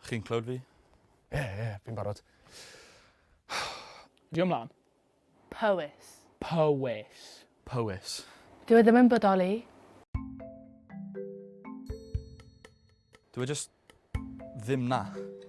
Chi'n clywed fi? Ie ie ie fi'n barod. Dwi ymlan. Powys. Powys. Powys. Dyw e ddim yn bodoli. Dyw e jyst ddim 'na.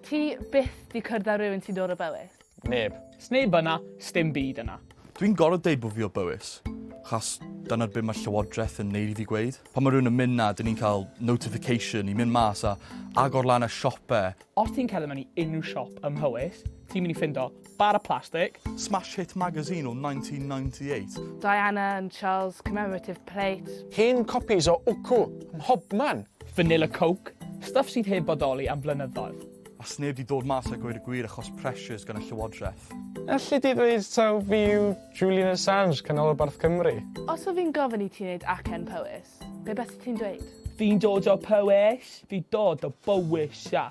Ti byth 'di cwrdd â rywun sy'n dod o Bowys? Neb. Sneb yna, sdim byd yna. Dwi'n gorfod deud bod fi o Bowys, achos dyna'r byd mae Llywodraeth yn neud i fi gweud. Pan mae rhywun yn mynd 'na, dyn ni'n cael notification i mynd mas a agor lan y siope. Os ti'n cerdded mewn i unrhyw siop ym Mhowys, ti'n mynd i ffindo bara plastig. Smash hit magazine o 1998. Diana and Charles commemorative plate. Hen copis o Wcw ym mhobman. Vanilla coke, stwff sydd heb bodoli am flynyddoedd. A sneb di dod mas a gweud y gwir achos pressures gan y llywodraeth. Elli di ddweud taw fi yw Julian Assange, canolbarth Cymru? Os o fi'n gofyn i ti wneud acen Powys, be beth ti'n dweud? Fi'n dod o Powys. Fi'n dod o Bowys, ia.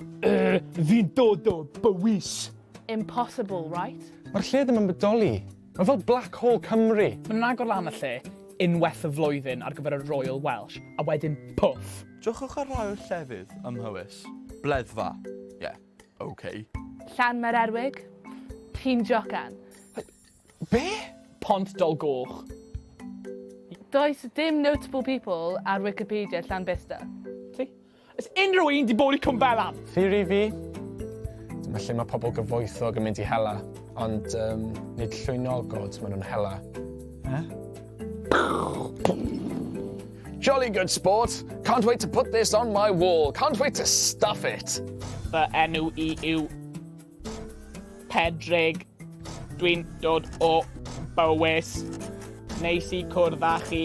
Fi'n dod o Bowys. Impossible, right? Mae'r lle ddim yn bodoli. Mae fel Black Hole Cymru! Maen nhw'n agor lan y lle unwaith y flwyddyn ar gyfer y Royal Welsh, a wedyn pwff! Jociwch ar rhai o'r llefydd ym Mhowys. Bleddfa. Ie, ok. Llanmaererwig? Ti'n jocan? Be? Pont Dolgoch. Does dim notable people ar Wicipedia Llanbesta. Ti? Oes unrhyw un 'di bod i Cwm Belaf? Theori fi, dyma lle mae pobl gyfoethog yn mynd i hela, ond um, nid llwynogod maen nhw'n hela. Eh? Jolly good sport. Can't wait to put this on my wall. Can't wait to stuff it. Fy enw i yw Pedrig. Dwi'n dod o Bywys. Neis i cwrdd â chi.